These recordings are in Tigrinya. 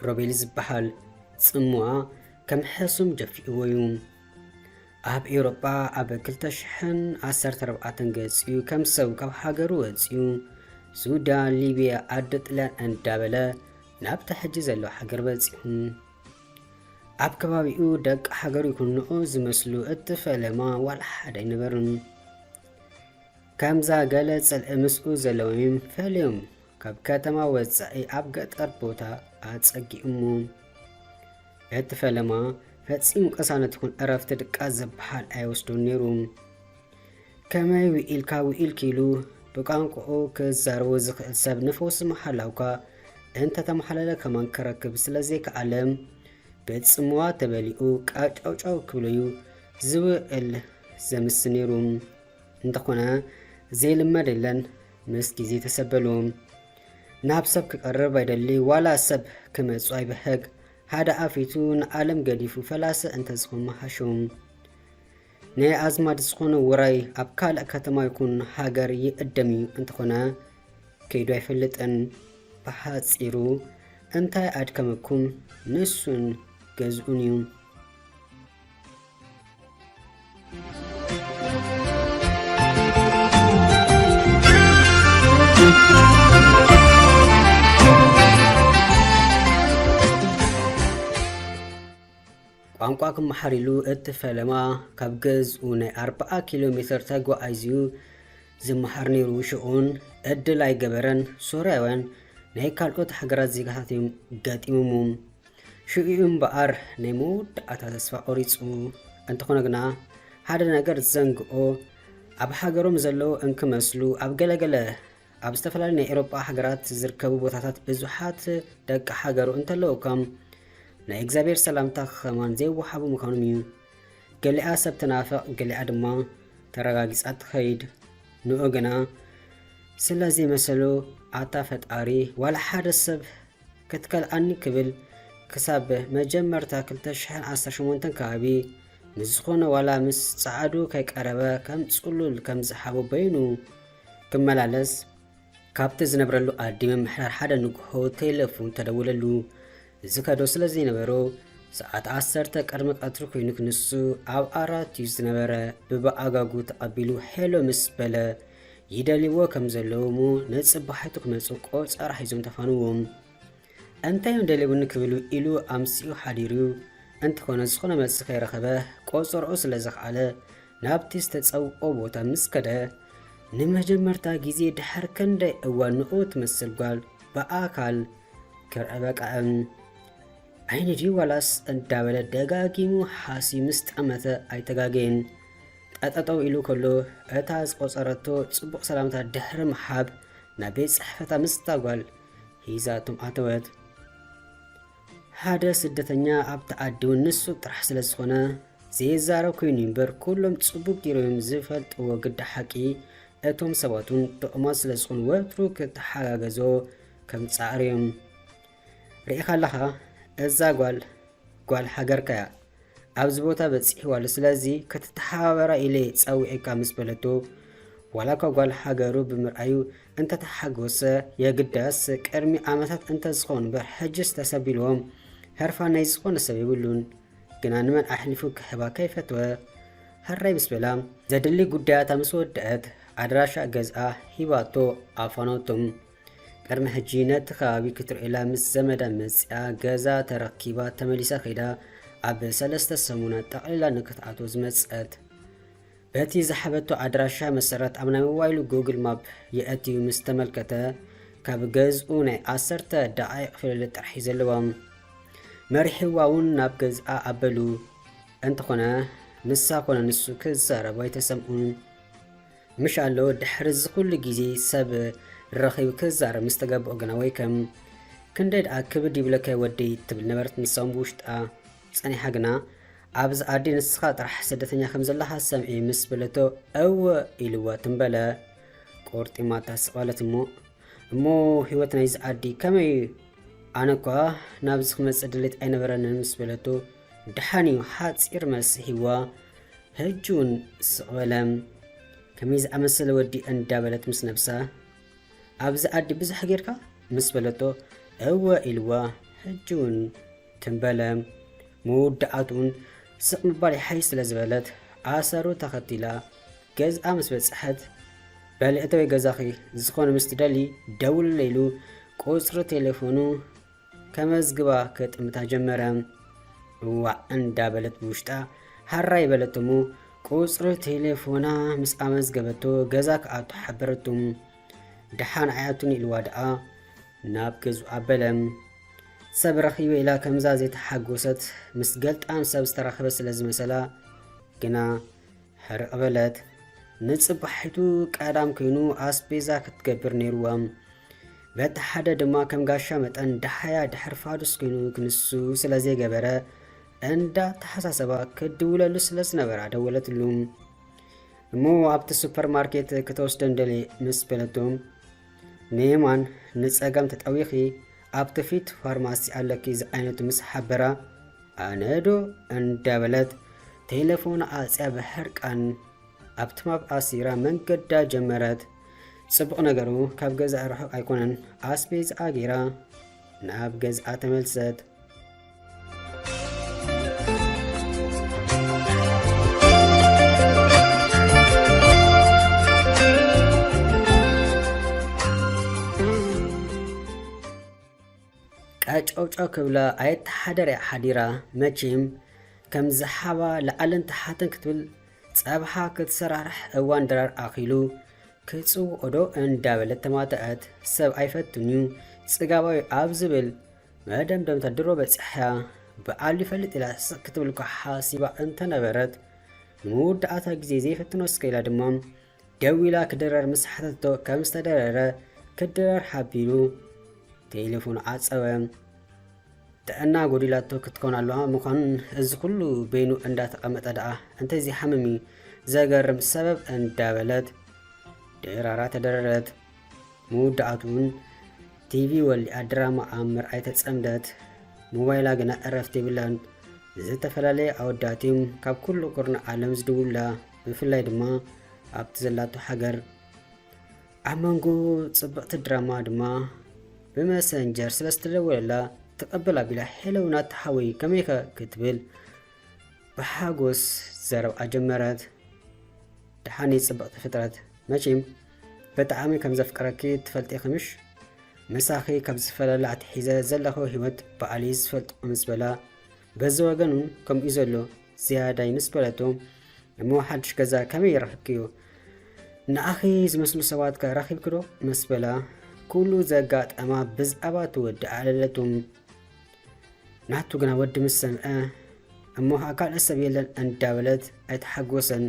ሮቤል ዝበሃል ጽምዋ ከም ሕሱም ደፊእዎ እዩ ኣብ ኤውሮጳ ኣብ 214 ገጽኡ ከም ሰብ ካብ ሃገሩ ወጽኡ ሱዳን ሊብያ ኣደ ጥልያን እንዳበለ ናብቲ ሕጂ ዘሎ ሃገር በጺሑ ኣብ ከባቢኡ ደቂ ሃገሩ ይኩንኦ ዝመስሉ እትፈለማ ዋላ ሓደ ኣይነበሩን። ከምዛ ገለ ጽልኢ ምስኡ ዘለዎም ፈልዮም ካብ ከተማ ወጻኢ ኣብ ገጠር ቦታ ኣጸጊኡሞ እቲ ፈለማ ፈጺሙ ቅሳነት ይኹን ዕረፍቲ ድቃስ ዝበሃል ኣይወስዶን ነይሩ። ከመይ ውኢልካ ውኢልኪ ኢሉ ብቋንቁኡ ክዛረቦ ዝኽእል ሰብ ንፈውሲ ምሓላውካ እንተተማሓለለ ከማን ክረክብ ስለዘይከኣለ ብጽምዋ ተበሊኡ ቃጫውጫው ክብለዩ ዝውእል ዘምስ ነይሩ እንተኾነ ዘይልመድ የለን ምስ ግዜ ተሰበሉ ናብ ሰብ ክቀርብ ኣይደሊ ዋላ ሰብ ክመጹ ኣይብህግ ሓደ ኣፊቱ ንዓለም ገዲፉ ፈላሰ እንተዝኾን መሃሹ ናይ ኣዝማድ ዝኾነ ውራይ ኣብ ካልእ ከተማ ይኹን ሃገር ይእደም እዩ፣ እንተኾነ ከይዱ ኣይፈልጥን። ብሓጺሩ እንታይ ኣድከመኩም ንሱን ገዝኡን እዩ። ቋንቋ ክመሓር ኢሉ እቲ ፈለማ ካብ ገዝኡ ናይ ኣርብዓ ኪሎ ሜተር ተጓዒዙ'ዩ ዝመሃር ነይሩ። ሽኡ'ውን ዕድል ኣይገበረን፣ ሶርያውያን ናይ ካልኦት ሃገራት ዜጋታት'ዮም ገጢሞሙ። ሽኡ'ዩ እምበኣር ናይ መወዳእታ ተስፋ ቆሪጹ። እንተኾነ ግና ሓደ ነገር ዘንግኦ፣ ኣብ ሃገሮም ዘለዉ እንክመስሉ ኣብ ገለገለ ኣብ ዝተፈላለዩ ናይ ኤሮጳ ሃገራት ዝርከቡ ቦታታት ብዙሓት ደቂ ሃገሩ እንተለዉ እኳ ናይ እግዚኣብሔር ሰላምታ ክኸማን ዘይወሃቡ ምዃኖም እዩ። ገሊኣ ሰብ ትናፍቕ ገሊኣ ድማ ተረጋጊጻ ትኸይድ። ንኡ ግና ስለ ዘይመሰሉ ኣታ ፈጣሪ ዋላ ሓደ ሰብ ክትከልኣኒ ክብል ክሳብ መጀመርታ 2018 ከባቢ ምስ ዝኾነ ዋላ ምስ ጸዓዱ ከይቀረበ ከም ጽሉል ከም ዝሓቦ በይኑ ክመላለስ ካብቲ ዝነብረሉ ኣዲ ምምሕዳር ሓደ ንግሆ ቴለፉን ተደውለሉ። ዝከዶ ስለ ዘይነበሮ ሰዓት ዓሰርተ ቅድሚ ቀትሪ ኮይኑ ክንሱ ኣብ ኣራት እዩ ዝነበረ። ብብኣጋጉ ተቐቢሉ ሄሎ ምስ በለ ይደልይዎ ከም ዘለዉ እሞ ንጽባሒቱ ክመጹ ቆጸራ ሒዞም ተፋንዎም። እንታይ እዮም ደልዩኒ ክብሉ ኢሉ ኣምሲኡ ሓዲሩ እንተኾነ ዝኾነ መልሲ ከይረኸበ ቆጸርኡ ስለ ዘኽኣለ ናብቲ ዝተጸውኦ ቦታ ምስ ከደ፣ ንመጀመርታ ግዜ ድሕሪ ክንደይ እዋን ንኡ ትመስል ጓል ብኣካል ክርእ በቃዕም። ዓይኒ ድዩ ዋላስ እንዳበለ ደጋጊሙ ሓስዩ ምስ ጠመተ ኣይተጋገየን። ጠጠጠው ኢሉ ከሎ እታ ዝቆጸረቶ ጽቡቕ ሰላምታ ድሕሪ ምሓብ ናብ ቤት ጽሕፈታ ምስታ ጓል ሂዛቶም ኣተወት። ሓደ ስደተኛ ኣብቲ ዓዲውን ንሱ ጥራሕ ስለ ዝኾነ ዘይዛረብ ኮይኑ እምበር ኩሎም ጽቡቅ ጌሮም እዮም ዝፈልጥዎ ግዳ ሓቂ እቶም ሰባቱን ጥቕማት ስለ ዝኾኑ ወትሩ ክተሓጋገዞ ከም ጻዕሩ እዮም ርኢኻ ኣለኻ እዛ ጓል ጓል ሃገርካ እያ ኣብዚ ቦታ በጺሕዋ ኣሎ ስለዚ ክትተሓባበራ ኢለ ጸዊዔካ ምስ በለቶ ዋላኳ ጓል ሃገሩ ብምርኣዩ እንተተሓጎሰ የግዳስ ቅድሚ ዓመታት እንተዝኸውን እምበር ሕጅስ ተሰቢልዎም ህርፋን ናይ ዝኾነ ሰብ የብሉን ግና ንመን ኣሕሊፉ ክሕባ ከይፈትወ ሃራይ ምስ በላ ዘድሊ ጉዳያታ ምስ ወድአት ኣድራሻ ገዝኣ ሂባቶ ኣፋኖቶም ቅድሚ ሕጂ ነቲ ከባቢ ክትርእየላ ምስ ዘመዳ መጺኣ ገዛ ተረኪባ ተመሊሳ ከይዳ ኣብ ሰለስተ ሰሙናት ጠቕሊላ ንክትኣትዎ ዝመጸት በቲ ዝሓበቶ ኣድራሻ መሰረት ኣብ ናይ ሞባይሉ ጉግል ማፕ የእትዩ ምስ ተመልከተ ካብ ገዝኡ ናይ ዓሰርተ ደቓይቕ ፍልልጥ ጥራሕ ዘለዎም መሪሕዋ እውን ናብ ገዝኣ ኣበሉ እንተኾነ ንሳ ኮነ ንሱ ክዛረቡ ኣይተሰምኡን ምሽ ኣሎ ድሕሪ እዚ ኩሉ ግዜ ሰብ ረኺቡ ክዛረብ ምስ ተገብኦ ግና ወይ ከም ክንደይ ደኣ ክብድ ይብለካ ወደይ ትብል ነበረት ንሳውን ብውሽጣ ጸኒሓ ግና ኣብዚ ኣዲ ንስኻ ጥራሕ ስደተኛ ከም ዘለኻ ሰምዒ ምስ በለቶ እወ ኢልዋ ትም በለ ቆርጢማታ ስቐለት እሞ እሞ ህይወት ናይዚ ኣዲ ከመይ እዩ ኣነ እኳ ናብዚ ክመጽእ ድሌት ኣይነበረንን ምስ በለቶ ደሓን እዩ ሓጺር መልሲ ሂዋ ሕጂ እውን ስቕ በለ ከመይ ዝኣመሰለ ወዲ እንዳበለት ምስ ነብሳ ኣብዚ ኣዲ ብዙሕ ጌርካ ምስ በለቶ እወ ኢልዋ ሕጂ እውን ትም በለ መወዳእትኡን ስቕ ምባል ይሓይሽ ስለ ዝበለት ኣሰሩ ተኸቲላ ገዝኣ ምስ በጽሐት በሊ እተወይ ገዛኺ ዝኾነ ምስ ትደሊ ደውልለ ኢሉ ቁጽሪ ቴሌፎኑ ከመዝግባ ከጥምታ ጀመረ። እዋዕ እንዳ በለት ብውሽጣ ሃራይ በለት እሞ ቁፅሪ ቴሌፎና ምስ ኣመዝገበቶ ገዛ ክኣቱ ሓበረቱ። ድሓን ኣይኣቱን ኢልዋ ድኣ ናብ ገዝኡ ኣበለ። ሰብ ረኺበ ኢላ ከምዛ ዘይተሓጎሰት ምስ ገልጣም ሰብ ዝተረኸበ ስለ ዝመሰላ ግና ሕርቅ በለት ንጽባሒቱ ቀዳም ኮይኑ ኣስቤዛ ክትገብር ነይርዋ በቲ ሓደ ድማ ከም ጋሻ መጠን ደሓያ ድሕር ፋዱስ ኮይኑ ክንሱ ስለ ዘይገበረ እንዳ ተሓሳሰባ ክድውለሉ ስለ ዝነበራ ደወለትሉ እሞ ኣብቲ ሱፐር ማርኬት ክትወስደን ደሌ ምስ በለቶም ንየማን ንጸጋም ተጠዊኺ ኣብቲ ፊት ፋርማሲ ኣለኪ ዝዓይነቱ ምስ ሓበራ ኣነዶ እንዳበለት ቴሌፎን ኣጽያ ብሕርቃን ኣብቲ ማብ ኣሲራ መንገዳ ጀመረት። ጽቡቕ ነገሩ ካብ ገዛ ርሑቕ ኣይኮነን። ኣስቤዝኣ ጌራ ናብ ገዝኣ ተመልሰት። ቀጨውጮ ክብላ ኣየተሓደር እያ ሓዲራ መቼም ከም ዝሓባ ላዕልን ተሓትን ክትብል ጸብሓ ክትሰራርሕ እዋን ድራር ኣኺሉ ክጽውኦዶ እንዳበለት ተማተዐት። ሰብ ኣይፈትንዩ ጽጋባዊ ኣብ ዝብል መደምደምታ ድሮ በጺሓያ ብዓል ይፈልጥ ኢላ ስቕ ክትብል እኳ ሓሲባ እንተነበረት ንመወዳእታ ግዜ ዘይፈትኖ እስከ ኢላ ድማ ደው ኢላ ክድረር ምስ ሓተቶ ከም ዝተደረረ ክድረር ሓቢሩ ቴሌፎኑ ዓጸወ። ጥዕና ጎዲላቶ ክትኮን ኣለዋ ምዃን እዚ ኩሉ በይኑ እንዳተቐመጠ ደኣ እንተዘይሓምም እዩ ዘገርም ሰበብ እንዳበለት ድራራ ተደረረት። መወዳእትኡን ቲቪ ወሊዓ ድራማ ኣብ ምርኣይ ተጸምደት። ሞባይላ ግና ዕረፍቲ የብላን። ዝተፈላለየ ኣወዳት እዮም ካብ ኩሉ ኩርናዕ ዓለም ዝድውሉላ፣ ብፍላይ ድማ ኣብቲ ዘላቶ ሃገር። ኣብ መንጎ ጽብቕቲ ድራማ ድማ ብመሰንጀር ስለ ዝተደወለላ ተቐበል ኣቢላ ሄሎ ናቲ ሓወይ ከመይከ ክትብል ብሓጎስ ዘረብኣ ጀመረት። ደሓኒ ጽብቕቲ ፍጥረት መቼም በጣዓሚ ከም ዘፍቅረኪ ትፈልጢኪ ምሽ ምሳኪ ካብ ዝፈላለ ኣትሒዘ ዘለኩ ሂወት ባዓል እዩ ዝፈልጦ ምስ በላ በዚ ወገን ውን ከምኡ እዩ ዘሎ ዝያዳይ ምስ በለቶ እሞ ሓድሽ ገዛ ከመይ ረክብክዮ ንኣኺ ዝመስሉ ሰባት ከ ረኪብኪ ዶ ምስ በላ ኩሉ ዘጋጠማ ብዛዕባ ትወድእ ኣለለቱ ናቱ ግና ወዲ ምስ ሰምዐ እሞ ኸኣ ካልእ ሰብ የለን እንዳበለት ኣይተሓጎሰን።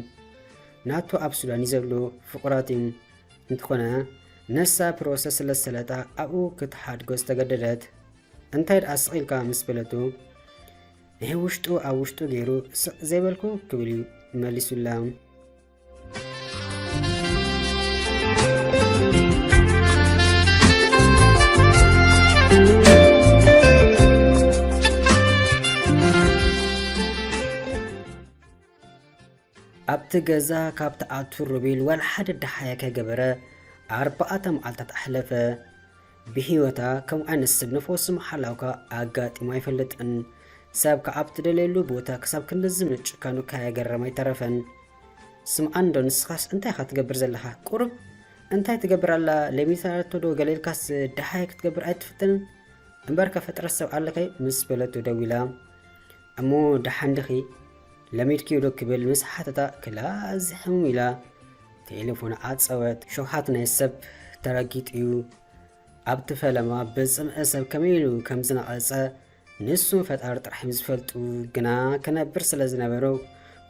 ናቱ ኣብ ሱዳን እዩ ዘሎ ፍቑራት እዮም። እንተኾነ ነሳ ፕሮሰስ ስለ ዝሰለጣ ኣብኡ ክትሓድጎ ዝተገደደት። እንታይ ደኣ ስቕ ኢልካ ምስ በለቱ ንሕውሽጡ ኣብ ውሽጡ ገይሩ ስቕ ዘይበልኩ ክብል እዩ መሊሱላ። ኣብቲ ገዛ ካብ ትኣቱ ሮቤል ዋላ ሓደ ደሓያ ከይገበረ ኣርባዕተ መዓልታት ኣሕለፈ። ብሂወታ ከም ዓይነት ሰብ ነፍወሲ ምሓላውካ ኣጋጢሙ ኣይፈልጥን ሰብ ክኣ ኣብ ትደልየሉ ቦታ ክሳብ ክንድዚ ምጭካኑ ካየገረመ ኣይተረፈን ስምዓኒ ዶ ንስኻስ እንታይ ኢኻ ትገብር ዘለኻ ቁሩብ እንታይ ትገብር ኣላ ለሚታቶ ዶ ገለ ኢልካስ ደሃይ ክትገብር ኣይትፍትንን እምበርከ ፍጥረት ሰብ ኣለካይ ምስ በለቶ ደዊላ እሞ ደሓን ድኺ ለሚድኪዮ ዶ ክብል ምስ ሓተታ ክላ እዚ ሕሙም ኢላ ቴሌፎን ዓጸወት። ሸውሃት ናይ ሰብ ተረጊጡ'ዩ። ኣብቲ ፈለማ ብጽምኢ ሰብ ከመይ ኢሉ ከም ዝነቐጸ ንሱን ፈጣሪ ጥራሕ'ዮም ዝፈልጡ። ግና ክነብር ስለ ዝነበሮ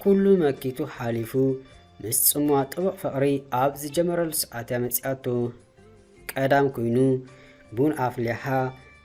ኩሉ መኪቱ ሓሊፉ ምስ ጽምዋ ጥቡቕ ፍቕሪ ኣብ ዝጀመረሉ ሰዓት'ያ መጺኣቶ። ቀዳም ኮይኑ ቡን ኣፍሊሓ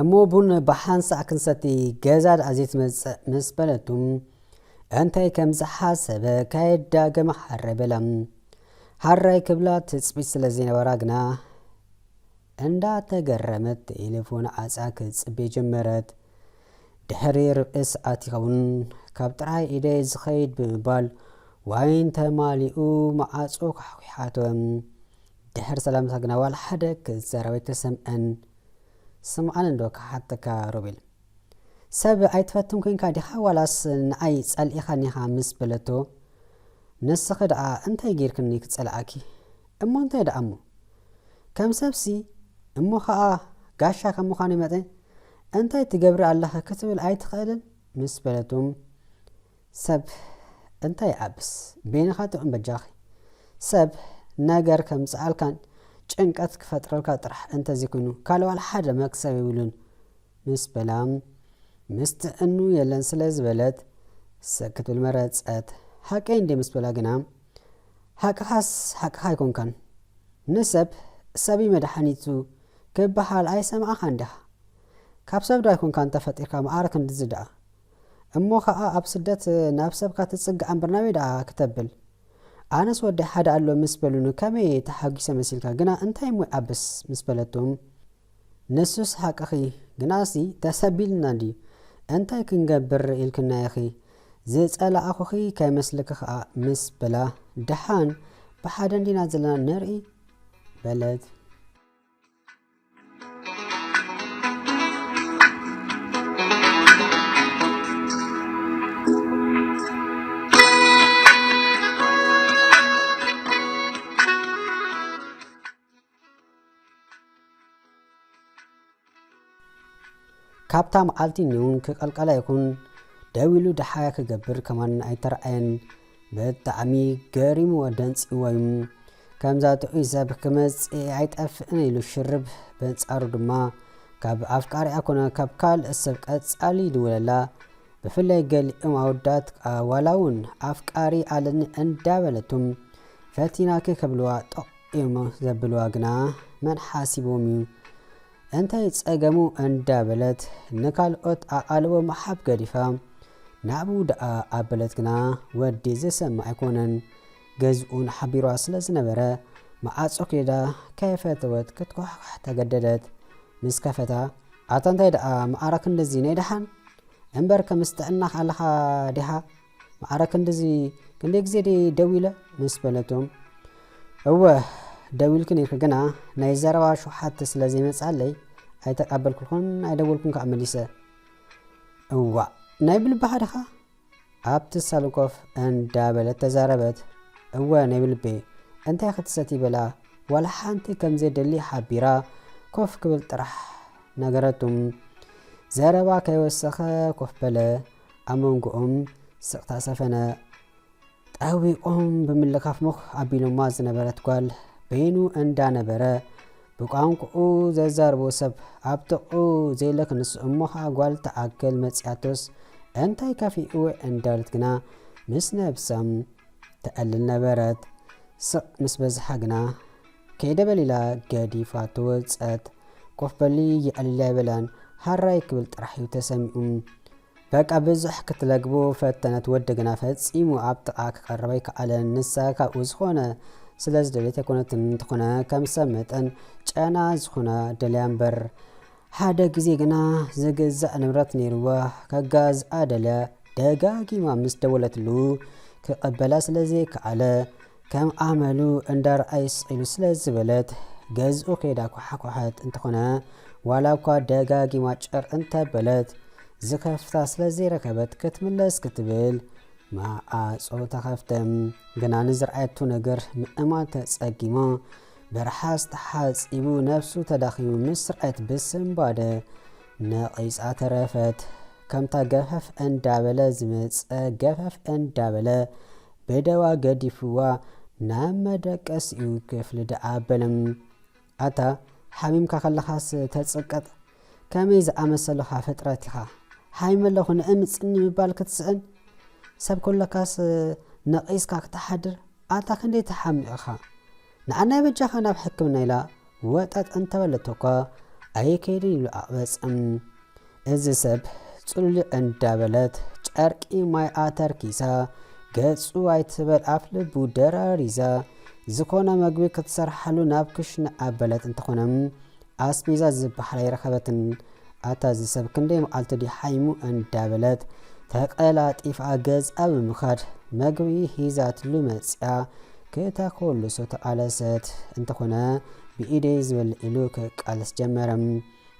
እሞ ቡን ብሓንሳእ ክንሰቲ ገዛ ድኣ ዘይትመጽእ ምስ በለቱ እንታይ ከም ዝሓሰበ ከየዳገመ ሓራይ በላ። ሓራይ ክብላ ትጽቢት ስለ ዘይነበራ ግና እንዳ ተገረመት ተኤሌፎን ዓጻ ክትጽቤ ጀመረት ድሕሪ ርብዒ ሰዓት ይኸውን ካብ ጥራይ ኢደይ ዝኸይድ ብምባል ዋይን ተማሊኡ መዓጹ ኳሕኲሓቶ ድሕሪ ሰላምታ ግና ዋላ ሓደ ክትዛረብ ኣይተሰምዐን ስምዓኒ እንዶ ክሓተካ ሮቤል ሰብ ኣይትፈትን ኮንካ ዲኻ ዋላስ ንዓይ ጸሊኢኻኒኻ ምስ በለቶ ንስኺ ደኣ እንታይ ጌርክኒ ክጸልኣኪ እሞ እንታይ ደኣ እሞ ከም ሰብሲ እሞ ከኣ ጋሻ ከም ምዃነይ መጠን እንታይ ትገብሪ ኣለኺ ክትብል ኣይትኽእልን ምስ በለቶ ሰብ እንታይ ይዓብስ በይንኻ ጥዑም በጃኺ ሰብ ነገር ከምጽኣልካን ጭንቀት ክፈጥረልካ ጥራሕ እንተዘይኮይኑ ካልእ ዋላ ሓደ መክሰብ የብሉን ምስ በላ፣ ምስ ትዕኑ የለን ስለ ዝበለት ስቅ ክትብል መረጸት። ሓቀይ እንድየ ምስ በላ ግና፣ ሓቅኻስ ሓቅኻ ኣይኮንካን፣ ንሰብ ሰብ'ዩ መድሓኒቱ ክበሃል ኣይሰማዕኻን ዲኻ? ካብ ሰብ'ዶ ኣይኮንካን ተፈጢርካ መዓረ ክንድዚ ደኣ? እሞ ከኣ ኣብ ስደት ናብ ሰብካ ትጽጋዕ እምበር ናበይ ደኣ ክተብል? ኣነስ ወደይ ሓደ ኣሎ ምስ በሉኒ ከመይ ተሓጒሰ መሲልካ ግና እንታይ እሞ ይዓብስ ምስ በለቶ፣ ንሱስ ሓቅኺ ግናሲ ተሰቢሉና ድዩ እንታይ ክንገብር ኢልክና ኢኺ ዝጸላኣኹኺ ከይመስልኪ ከኣ ምስ በላ ደሓን ብሓደ እንዲና ዘለና ንርኢ በለት። ካብታ መዓልቲ ኙንግ ክቐልቀላ ይኹን ደው ኢሉ ደሓያ ክገብር ከማን ኣይተርኣየን። ብጣዕሚ ገሪምዎ ደንጺዎ እዩ። ከምዛ ጥዑይ ሰብ ክመጽእ ኣይጠፍእን ኢሉ ሽርብ። በንጻሩ ድማ ካብ ኣፍቃሪኣ ኮነ ካብ ካልእ ሰብ ቀጻሊ ይድውለላ። ብፍላይ ገሊኦም ኣወዳት ዋላ እውን ኣፍቃሪ ኣለኒ እንዳበለቱም ፈቲናኪ ክብልዋ ጠቕ እዮም ዘብልዋ ግና መን ሓሲብዎም እዩ እንታይ ጸገሙ እንዳበለት ንካልኦት ኣቓልቦ ምሓብ ገዲፋ ናብኡ ደኣ ኣበለት ግና ወዲ ዝሰምዕ ኣይኮነን ገዝኡን ሓቢርዋ ስለ ዝነበረ መዓጾ ክይዳ ከይፈተወት ክትኳሕኳሕ ተገደደት ምስ ከፈታ ኣታ እንታይ ደኣ መዓረ ክንድዚ ናይ ደሓን እምበር ከምስ ጥዕናኽ ኣለኻ ዲኻ ማዕረ ክንድዚ ክንደይ ግዜ ዲ ደው ኢለ ምስ በለቶም እወ ደው ኢልክን ኢኺ ግና ናይ ዘረባ ሸውሓት ስለ ዘይመጽኣለይ ኣይተቃበልኩልኩን ኣይደወልኩን ከኣ መሊሰ እዋእ ናይ ብልቢ ሓደኻ ኣብቲ ሳሎን ኮፍ እንዳበለት ተዛረበት እወ ናይ ብልቢ እንታይ ክትሰቲ በላ ዋላ ሓንቲ ከም ዘየደሊ ሓቢራ ኮፍ ክብል ጥራሕ ነገረቱ ዘረባ ከይወሰኸ ኮፍ በለ ኣብ መንጎኦም ስቕታ ሰፈነ። ጠዊቖም ብምልካፍ ሞኽ ኣቢሎማ ዝነበረት ጓል በይኑ እንዳ ነበረ ብቋንቁኡ ዘዛርቦ ሰብ ኣብ ጥቕኡ ዘይለክንስ እሞ ኸኣ ጓል ትኣክል መጺኣቶስ እንታይ ከፊኡ እንዳለት ግና ምስ ነብሳ ተዕልል ነበረት። ስቕ ምስ በዝሓ ግና ከይደ በል ኢላ ገዲፋ ትወጸት። ኮፍ በሊ የዕሊል ኣይበላን፣ ሃራይ ክብል ጥራሕ እዩ ተሰሚዑ። በቃ ብዙሕ ክትለግቦ ፈተነት፣ ወዲ ግና ፈጺሙ ኣብ ጥቓ ክቐርብ ኣይከኣለን። ንሳ ካብኡ ዝኾነ ስለ ዝደልየት ኣይኮነትን፣ እንተኾነ ከም ሰብ መጠን ጨና ዝኾና ደልያ እምበር። ሓደ ግዜ ግና ዝግዛእ ንብረት ነይርዋ ከጋዝኣ ደለ ደጋጊማ ምስ ደወለትሉ ክቐበላ ስለ ዘይከኣለ ከም ኣመሉ እንዳርኣይ ስቒሉ ስለ ዝበለት ገዝኡ ከይዳ ኳሓኳሓት እንተኾነ ዋላ እኳ ደጋጊማ ጭር እንተበለት ዝከፍታ ስለ ዘይረከበት ክትምለስ ክትብል ማዓጾ ተኸፍተ ግና ንዝርኣየቱ ነገር ምእማን ተጸጊማ ብርሓጽ ተሓጺቡ ነብሱ ተዳኺሙ ምስ ስርዐት ብስንባደ ነቒጻ ተረፈት። ከምታ ገፈፍ እንዳበለ ዝመጸ ገፈፍ እንዳበለ ብደዋ ገዲፍዋ ናብ መደቀሲኡ ክፍሊ ደኣ ኣበለ። ኣታ ሓሚምካ ከለኻስ ተጽቅጥ ከመይ ዝኣመሰልኻ ፍጥረት ኢኻ ሓሚመ ኣለኹ ንእምጽኒ ምባል ክትስእን ሰብ ከለካስ ነቒስካ ክትሓድር ኣታ ክንደይ ትሓምቕ ኢኻ ንዓናይ በጃኻ ናብ ሕክምና ኢላ ወጠጥ እንተበለቶኳ ኣይከይድን ኢሉ ኣቕበጸ። እዚ ሰብ ጽሉልዕ እንዳበለት ጨርቂ ማይ ኣተርኪሳ ገጹ ኣይትበል ኣፍ ልቡ ደራሪዛ ዝኾነ መግቢ ክትሰርሓሉ ናብ ክሽነ ኣበለት እንተኾነ ኣስቤዛ ዝብሃል ኣይረኸበትን ኣታ እዚ ሰብ ክንደይ መዓልቱ ድዩ ሓይሙ እንዳበለት ተቐላጢፋ ገዝኣ ብምኻድ መግቢ ሂዛትሉ መጽያ ክተኮልሶ ተቓለሰት እንተኾነ ብኢደይ ዝበልዕ ኢሉ ክቃለስ ጀመረ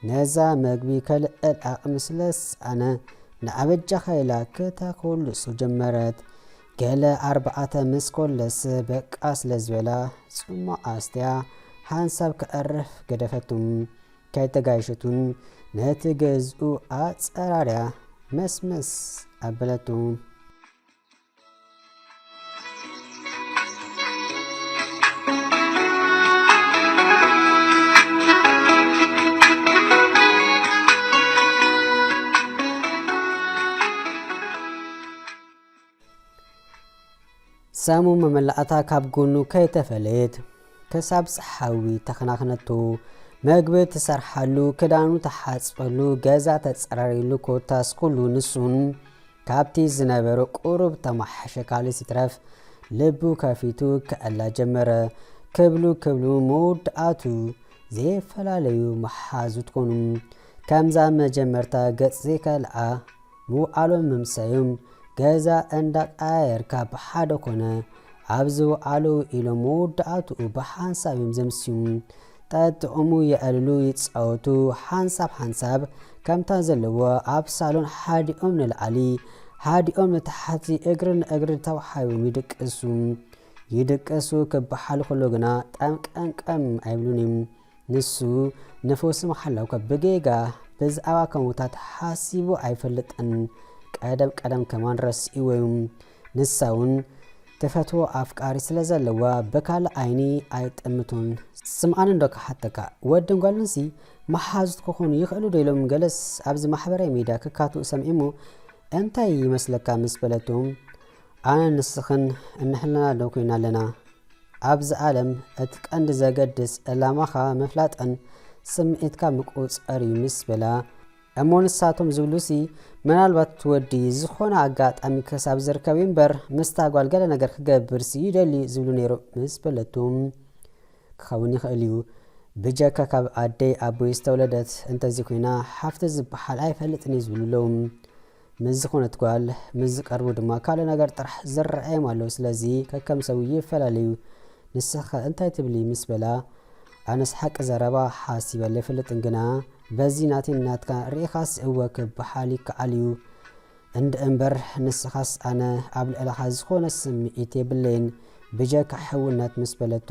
ነዛ መግቢ ከልዕል ኣቕሚ ስለዝሰኣነ ንኣበጃኸ ኢላ ክተኮልሶ ጀመረት ገለ ኣርባዕተ ምስ ኮለስ በቃ ስለ ዝበላ ጽሟቕ ኣስትያ ሓንሳብ ከዕርፍ ገደፈቱ። ከይተጋየሸቱን ነቲ ገዝኡ ኣጸራርያ መስመስ ኣበለቶ። ሳሙ መመላእታ ካብ ጎኑ ከይተፈለየት ከሳብ ጸሓዊ ተኸናኽነቶ። መግቢ ትሰርሓሉ፣ ክዳኑ ተሓጽበሉ፣ ገዛ ተጸራሪሉ ኮታስ ኩሉ ንሱን ካብቲ ዝነበረ ቁሩብ ተማሓሸ ካልስ ይትረፍ ልቡ ከፊቱ ክዕላ ጀመረ። ክብሉ ክብሉ መወዳእቱ ዘይፈላለዩ መሓዙት ኮኑ። ከምዛ መጀመርታ ገጽ ዘይከልኣ ምውዓሎም ምምሰዩም ገዛ እንዳቀያየርካ ብሓደ ኮነ ኣብ ዝውዓሉ ውዒሎም መወዳእትኡ ብሓንሳብ እዮም ዘምስዩም ጠጥዑሙ የዕልሉ ይጻወቱ ሓንሳብ ሓንሳብ ከምታ ዘለዎ ኣብ ሳሎን ሓዲኦም ንላዕሊ ሓዲኦም ንታሕቲ እግሪ ንእግሪ ተዋሓዮም ይድቅሱ ይድቅሱ ክበሓል ከሎ ግና ጠምቀምቀም ኣይብሉን እዮም ንሱ ነፈሱ ምሓለውከ ብጌጋ ብዝኣባ ከሙታት ሓሲቡ ኣይፈልጥን ቀደም ቀደም ከማን ረሲእዎ ዩ ንሳውን ትፈትዎ ኣፍቃሪ ስለ ዘለዋ ብካልእ ኣይኒ ኣይጥምቶን ስምዓኒ እንዶ ክሓተካ ወድን ጓልንሲ መሓዙት ክኾኑ ይኽእሉ ዶ ኢሎም ገለስ ኣብዚ ማሕበራዊ ሚድያ ክካትኡ ሰሚዔሞ እንታይ ይመስለካ ምስ በለቶ ኣነን ንስኽን እንሕልና ዶ ኮይና ኣለና? ኣብዚ ኣለም እቲ ቀንዲ ዘገድስ ዕላማኻ ምፍላጥን ስምዒትካ ምቁፅፀር እዩ ምስ በላ እሞ ንሳቶም ዝብሉሲ ምናልባት እቲ ወዲ ዝኾነ ኣጋጣሚ ክሳብ ዝርከብ እዩ እምበር ምስታ ጓል ገለ ነገር ክገብርሲ ይደሊ ዝብሉ ነይሩ ምስ በለቱ ክኸውን ይኽእል እዩ ብጀካ ካብ ኣደይ ኣቦይ ዝተወለደት እንተዚ ኮይና ሓፍቲ ዝበሃል ኣይፈልጥን እዩ ዝብሉ ኣለዉ ምስ ዝኾነት ጓል ምስ ዝቀርቡ ድማ ካልእ ነገር ጥራሕ ዝረኣዮም ኣሎ ስለዚ ከከም ሰቡ ይፈላለዩ ንስኺኸ እንታይ ትብሊ ምስ በላ ኣነስ ሓቂ ዘረባ ሓሲበለ ኣይፈልጥን ግና በዚ ናተይን ናትካን ርኢኻስ እወ ክበሃል ይከኣል እዩ እንደእምበር ንስኻስ ኣነ ኣብ ልዕለኻ ዝኾነ ስምዒት የብለይን ብጀካ ሕውነት ምስ በለቱ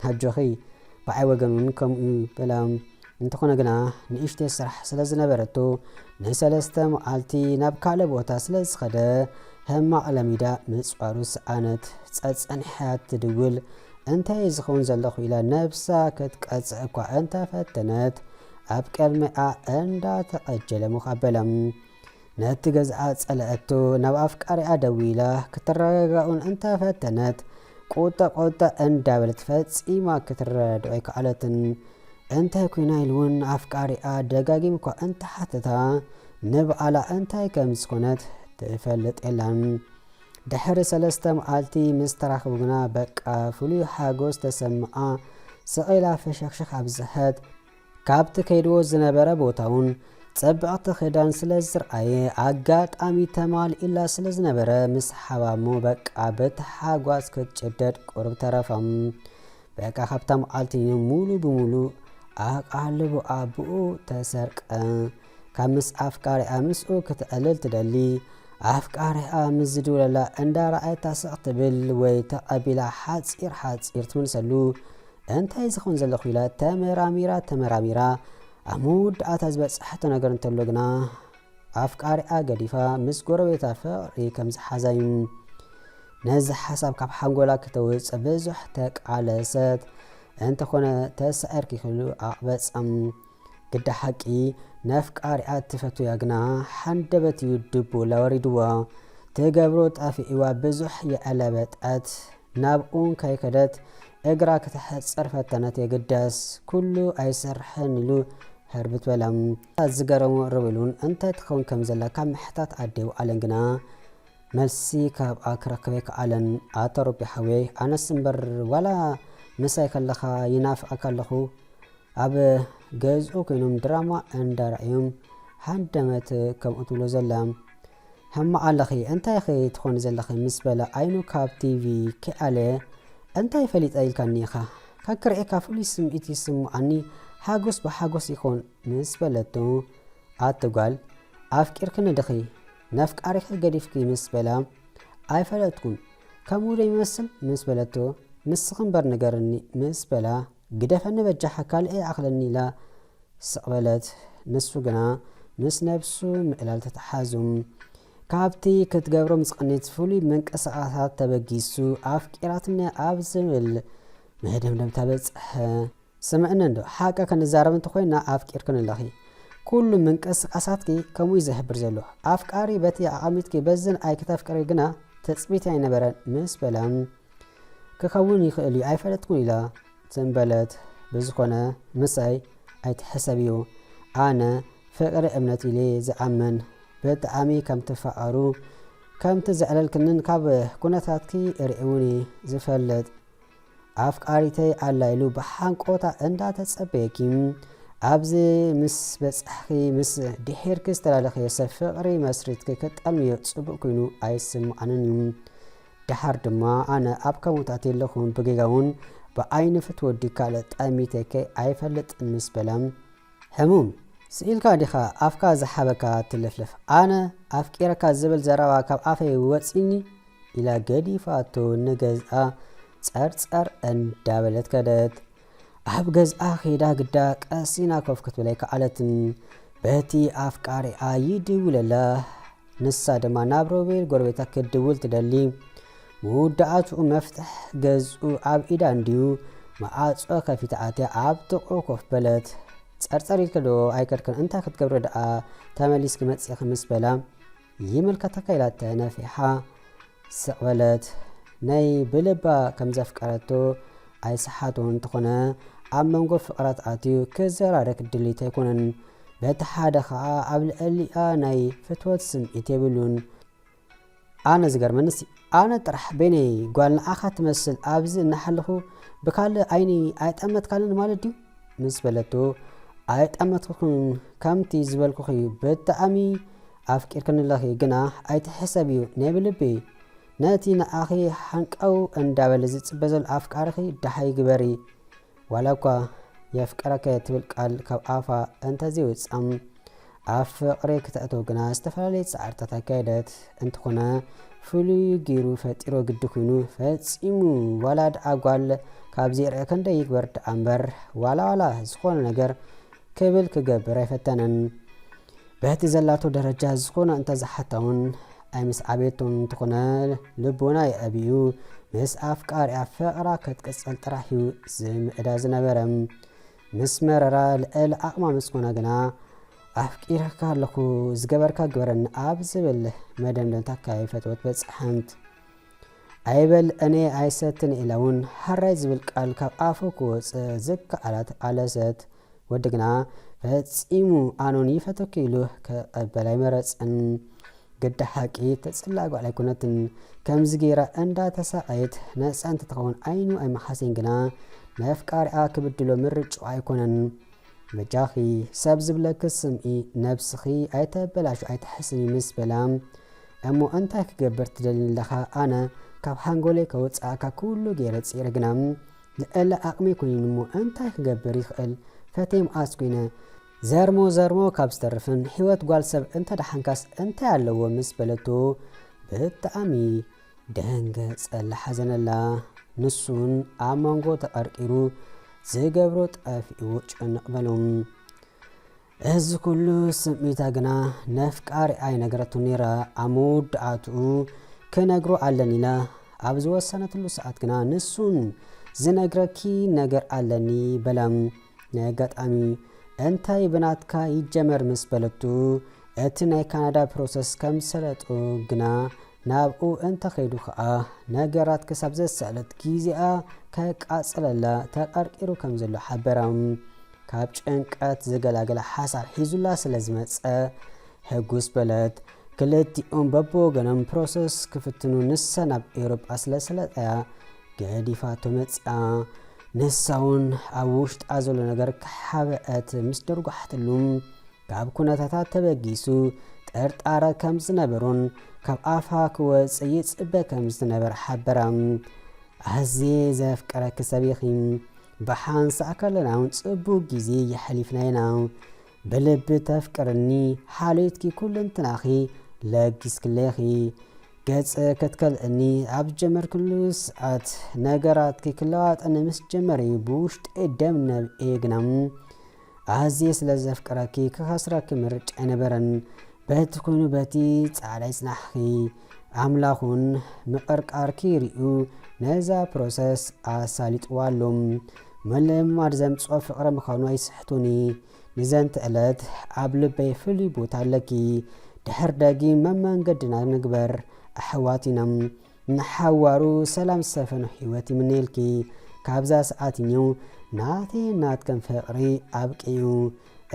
ኣጆኺ ብዓይ ወገን ውን ከምኡ ዩ በላ እንተኾነ ግና ንእሽተይ ስራሕ ስለ ዝነበረቶ ንሰለስተ መዓልቲ ናብ ካልእ ቦታ ስለ ዝኸደ ሕማቕ ለሚዳ ምጽዋሩ ሰኣነት ጸጸኒሓ ትድውል እንታይ እዩ ዝኸውን ዘለኹ ኢላ ነብሳ ክትቀጽዕ እኳ እንተፈተነት ኣብ ቅድሚኣ እንዳተቐጀለ ሞኽ ኣበላ ነቲ ገዝኣ ጸለኣቶ፣ ናብ ኣፍቃሪኣ ደዊላ ክትረጋጋ'ውን እንተ ፈተነት፣ ቁጠ ቁጠ እንዳበለት ፈጺማ ክትረዳድኦ ኣይከኣለትን። እንታይ ኮይና ኢሉ'ውን ኣፍቃሪኣ ደጋጊሙ'ኳ እንተ ሓተታ፣ ንበኣላ እንታይ ከም ዝኾነት ትፈልጥ የላን። ድሕሪ ሰለስተ መዓልቲ ምስ ተራኽቡ ግና በቃ ፍሉይ ሓጎስ ተሰምዓ፣ ስቕ ኢላ ፈሸኽሸኽ ኣብዝሐት። ካብቲ ከይድዎ ዝነበረ ቦታውን ጸብቕቲ ክዳን ስለ ዝርኣየ ኣጋጣሚ ተማሊኡላ ስለ ዝነበረ ምስ ሓባሞ በቃ ብታሓጓስ ክትጭደድ ቁርብ ተረፎም። በቃ ካብታ መዓልቲ ሙሉ ብሙሉ ኣቓልቦ ኣቡኡ ተሰርቀ። ካብ ምስ ኣፍቃሪኣ ምስኡ ክትዕልል ትደሊ ኣፍቃሪኣ ምስ ዝድውለላ እንዳረኣየታ ስቕ ትብል ወይ ተቐቢላ ሓጺር ሓጺር ትምልሰሉ እንታይ ዝኸውን ዘለኹ ኢላ ተመራሚራ ተመራሚራ ኣብ ምውዳኣታ ዝበጸሐቶ ነገር እንተሎ ግና ኣፍቃሪኣ ገዲፋ ምስ ጎረቤታ ፍቕሪ ከም ዝሓዛ እዩ። ነዚ ሓሳብ ካብ ሓንጎላ ክተውጽእ ብዙሕ ተቃለሰት። እንተኾነ ተሳዒር ክይክሉ ኣቕበጸም። ግዳ ሓቂ ነፍቃሪኣ እትፈትያ ግና ሓንደበት እዩ ድቡላ ወሪድዎ ትገብሮ ጣፊዒዋ ብዙሕ የዕለበጠት ናብኡን ከይከደት እግራ ክተሕጽር ፈተነት የግዳስ ኩሉ ኣይሰርሕን ኢሉ ህርብት በለ። እታ ዝገረሞ ርብሉን እንታይ ትኸውን ከም ዘላ ካብ ምሕታት ኣደው ኣለን ግና መልሲ ካብኣ ክረክብ ኣይከኣለን። ኣታ ሩቢ ሓወይ ኣነስ እምበር ዋላ ምሳይ ከለኻ ይናፍቐካ ኣለኹ ኣብ ገዝኡ ኮይኖም ድራማ እንዳረኣዮም ሃንደመት ከምኡ ትብሎ ዘላ ሕማቅ ኣለኺ እንታይ ኢኺ ትኾኒ ዘለኺ ምስ በለ ኣይኑ ካብ ቲቪ ከይኣለ እንታይ ፈሊጠ ኢልካኒ ኢኻ ከክርኤካ ፍሉይ ስምዒት ይስምዓኒ ሓጎስ ብሓጎስ ይኹን ምስ በለቶ ኣቲ ጓል ኣፍቂርክኒ ድኺ ነፍቃሪኺ ገዲፍኪ ምስ በላ ኣይፈለጥኩን ከምኡ ዶ ይመስል ምስ በለቶ ንስኺ እምበር ንገርኒ ምስ በላ ግደፈኒ በጃኻ ካልእይ ኣኽለኒ ኢላ ስቕ በለት። ንሱ ግና ምስ ነብሱ ምእላል ተተሓሓዙ። ካብቲ ክትገብሮ ምስ ቐንየት ፍሉይ ምንቅስቓሳት ተበጊሱ ኣፍቂራትኒ ኣብ ዝብል መደምደምታ በጽሐ። ስምዕኒ እንዶ፣ ሓቂ ክንዛረብ እንተኾይንና ኣፍቂርክኒ ኣለኺ። ኩሉ ምንቅስቓሳትኪ ከምኡ'ዩ ዝሕብር ዘሎ። ኣፍቃሪ በቲ ኣቐሚጥኪ በዝን ኣይክተፍቅሪ ግና ትጽቢተይ ኣይነበረን ምስ በላ። ክከውን ይክእል እዩ ኣይፈለጥኩን ኢላ ትም በለት ብዝኮነ ምሳይ ኣይትሕሰብ እዩ ኣነ ፍቅሪ እምነት ኢሌ ዝኣምን ብጣኣሚ ከም ትፋቀሩ ከም ትዝዕለልክንን ካብ ኩነታትኪ ሪእዉኒ ዝፈልጥ ኣፍቃሪተይ ኣላ ኢሉ ብሓንቆታ እንዳ ተጸበየኪ ኣብዚ ምስ በጻሕኪ ምስ ድሒርኪ ዝተላለኸዮ ሰብ ፍቅሪ መስሪትኪ ክጠልምዮ ጽቡቅ ኮይኑ ኣይስምዓንን እዩ ደሓር ድማ ኣነ ኣብ ከምኡት ኣትየለኹ ብጌጋውን ብኣይንፍት ወዲ ካልእ ጠሚተከ ኣይፈልጥን ምስ በለ ሕሙም ስኢልካ ዲኻ ኣፍካ ዝሓበካ ትልፍልፍ ኣነ ኣፍቂረካ ዝብል ዘረባ ካብ ኣፈይ ወፂኒ ኢላ ገዲፋቶ ንገዝኣ ጸርጸር እንዳበለት ከደት። ኣብ ገዝኣ ከይዳ ግዳ ቀሲና ኮፍ ክትብል ኣይከኣለትን። በቲ ኣፍቃሪኣ ይድውለላ። ንሳ ድማ ናብ ሮቤል ጎረቤታ ክትድውል ትደሊ። መወዳእትኡ መፍትሕ ገዝኡ ኣብ ኢዳ እንድዩ መዓጾ ከፊታ ኣትያ ኣብ ጥቕኡ ኮፍ በለት። ጸርጸር ኢልክዶ ኣይከድክን እንታይ ክትገብሪ ደኣ ተመሊስኪ መጺእኺ ምስ በላ ይምልከተካ ኢላተ ነፊሓ ስቅ በለት ናይ ብልባ ከም ዘፍቀረቶ ኣይሰሓቶ እንተኾነ ኣብ መንጎ ፍቅራት ኣትዩ ክዘራረክ ድሊት ኣይኮነን በቲ ሓደ ከኣ ኣብ ልዕሊኣ ናይ ፍትወት ስምዒት የብሉን ኣነ ዝገርመንስ ኣነ ጥራሕ በይነይ ጓል ንዓኻ ትመስል ኣብዚ እናሓለኹ ብካልእ ዓይኒ ኣይጠመትካንን ማለት ድዩ ምስ በለቶ ኣይጠመትኩክን ከምቲ ዝበልኩኺ ብጣዕሚ ኣፍቂርክንለኺ ግና ኣይትሕሰብዩ ናይ ብልቢ ነቲ ንኣኺ ሓንቀው እንዳበለ ዝጽበ ዘሎ ኣፍቃርኺ ደሃይ ግበሪ ዋላ እኳ የፍቅረከ ትብል ቃል ካብ ኣፋ እንተዘይወጽኣ ኣብ ፍቕሪ ክተእትው ግና ዝተፈላለየ ጻዕርታት ኣካየደት። እንተኾነ ፍሉይ ጌሩ ፈጢሮ ግዲ ኩይኑ ፈጺሙ ዋላ ድኣ ጓል ካብ ዘይርኣ ከንደይ ይግበር ድኣ እምበር ዋላ ዋላ ዝኾነ ነገር ክብል ክገብር ኣይፈተነን። በቲ ዘላቶ ደረጃ ዝኾነ እንተዝሓታውን ኣይምስዓበየቶም እንተኾነ ልቦና የኣብዩ ምስ ኣፍቃሪኣ ፍቕራ ክትቅጽል ጥራሕዩ ዝምዕዳ ዝነበረ። ምስ መረራ ልዕል ዓቕማ ምስ ኮና ግና ኣፍቂረካ ኣለኹ ዝገበርካ ግበረኒ ኣብ ዝብል መደምደምታ ከይፈተወት በጽሐት። ኣይበል እኔ ኣይሰትን ኢላ እውን ሃራይ ዝብል ቃል ካብ ኣፉ ክወጽእ ዝከኣላት ኣለሰት። ወዲ ግና ፈጺሙ ኣኖን ይፈተኪ ኢሉ ክቕበል ኣይመረጽን። ግደ ሓቂ ተጽላእ ጋል ኣይኮነትን ከምዚ ጌራ እንዳ ተሳቀየት ነጻ እንተትኸውን ዓይኑ ኣይምሓሰይን ግና ነፍቃሪኣ ክብድሎ ምርጭኡ ኣይኮነን በጃኺ ሰብ ዝብለኪ ስምኢ ነብስኺ ኣይተበላሹ ኣይትሕስኒ ምስ በላ እሞ እንታይ ክገብር ትደልኒ ኣለኻ ኣነ ካብ ሓንጎለይ ከውጽኣካ ኩሉ ገይረ ጽረ ግና ልዕሊ ኣቕመይ ኮይኑሞ እንታይ ክገብር ይኽእል ፈቴ መዓስ ኮይነ ዘርሞ ዘርሞ ካብ ዝተርፍን ሂወት ጓል ሰብ እንተደሓንካስ እንታይ ኣለዎ ምስ በለቶ ብጣእሚ ደንገጸላ ሓዘነላ ንሱን ኣብ መንጎ ተቀርቂሩ ዝገብሮ ጠፊእዎ ጭንቅ በሎ እዚ ኩሉ ስምዒታ ግና ነፍቃሪ ኣይነገረቱን ነይራ ኣብ መወዳእትኡ ክነግሮ ኣለኒ ኢላ ኣብ ዝወሰነትሉ ሰዓት ግና ንሱን ዝነግረኪ ነገር ኣለኒ በላ ናይ ኣጋጣሚ እንታይ ብናትካ ይጀመር ምስ በለቱ እቲ ናይ ካናዳ ፕሮሰስ ከም ሰለጡ ግና ናብኡ እንተኸይዱ ከኣ ነገራት ክሳብ ዘሰኣለት ግዜኣ ከቃጽለላ ተቐርቂሩ ከም ዘሎ ሓበራ። ካብ ጭንቀት ዝገላገለ ሓሳብ ሒዙላ ስለ ዝመጸ ሕጉስ በለት። ክልቲኦም በብወገኖም ፕሮሰስ ክፍትኑ ንሳ ናብ ኤውሮጳ ስለ ሰለጠያ ገዲፋቶ መጺኣ። ንሳውን ኣብ ውሽጣ ዘሎ ነገር ክሓበአት ምስ ደርጓሕትሉ ካብ ኩነታታ ተበጊሱ ጥርጣረ ከም ዝነበሮን ካብ ኣፋ ክወጽእ ይጽበ ከም ዝነበረ ሓበራ። ኣዝየ ዘፍቅረኪ ሰብ ኢኺ፣ ብሓንሳእ ከለና እውን ጽቡቕ ግዜ የሕሊፍና ኢና። ብልቢ ተፍቅርኒ ሓልዮትኪ ኩልንትናኺ ለጊስክለይ ኢኺ። ገጽ ክትከልእኒ ኣብ ዝጀመርክሉ ሰዓት፣ ነገራትኪ ክለዋጠኒ ምስ ጀመረ እዩ ብውሽጠይ ደም ነብዔ። ግና ኣዝየ ስለ ዘፍቅረኪ ክኸስረኪ ምርጫ ኣይነበረን። በቲ ኮይኑ በቲ ጻዕዳይ ጽናሕኪ ኣምላኽ ውን ምቕርቃርኪ ሪኡ ነዛ ፕሮሰስ ኣሳሊጥዋ ኣሎ። ምልምማድ ዘምጽኦ ፍቕሪ ምዃኑ ኣይስሕቱኒ። ንዘንት ዕለት ኣብ ልበይ ፍሉይ ቦታ ኣለኪ ድሕር ደጊም መመንገድና ንግበር ኣሕዋት ኢና ንሓዋሩ ሰላም ዝሰፈኖ ህይወት ይምነየልኪ ካብዛ ሰዓት እዩ ናተይ ናትከም ፍቕሪ ኣብቂኡ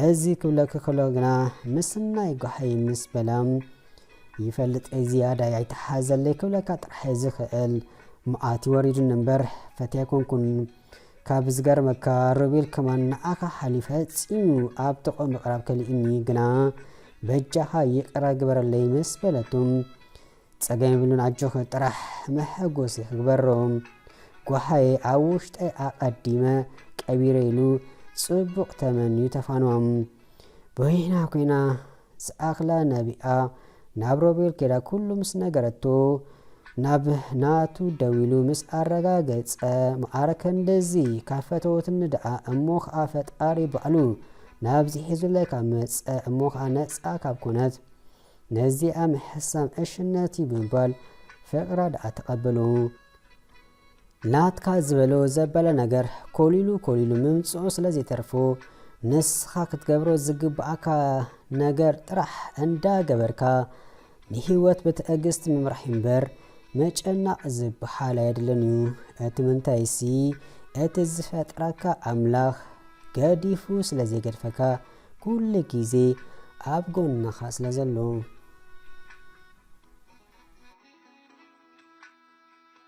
እዚ ክብለኪ ከሎ ግና ምስናይ ጓሃይ ምስ በላም ይፈልጥ ዝያዳይ ኣይተሓዘለይ ክብለካ ጥራሕ ዝኽእል መዓት ወሪዱኒ እምበር ፈትያ ኮንኩን ካብ ዝገርመካ ሮቤል ከማን ንዓካ ሓሊፈ ጺሙ ኣብ ጥቅኡ ምቅራብ ከሊኡኒ ግና በጃካ ይቅረ ግበረለይ ምስ በለቱ ጸገም የብሉን ኣጆክ ጥራሕ መሐጎሲ ክግበሮ ጓሃየ ኣብ ውሽጠይ ኣቀዲመ ቀቢረ ኢሉ ጽቡቅ ተመንዩ ተፋንዋም በይና ኮይና ዝኣኽላ ናቢኣ ናብ ሮቤል ከይዳ ኩሉ ምስ ነገረቶ ናብ ናቱ ደው ኢሉ ምስ ኣረጋገጸ መዓረ ከንደዚ ካብ ፈተወትኒ ደኣ እሞ ከኣ ፈጣሪ ባዕሉ ናብዚ ሒዙለይ ካብ መጸ እሞ ከኣ ነጻ ካብ ኮነት ነዚኣ ምሕሳም ዕሽነት እዩ ብምባል ፍቕራ ደኣ ተቐበሉ። ናትካ ዝበሎ ዘበለ ነገር ኮሊሉ ኮሊሉ ምምጽኡ ስለ ዘይተርፉ ንስኻ ክትገብሮ ዝግብኣካ ነገር ጥራሕ እንዳ ገበርካ ንህይወት ብትዕግስቲ ምምራሕ እምበር ምጭናቕ ዝበሃል ኣየድልን እዩ። እቲ ምንታይሲ እቲ ዝፈጥረካ ኣምላኽ ገዲፉ ስለ ዘይገድፈካ ኩሉ ግዜ ኣብ ጎንኻ ስለ ዘሎ።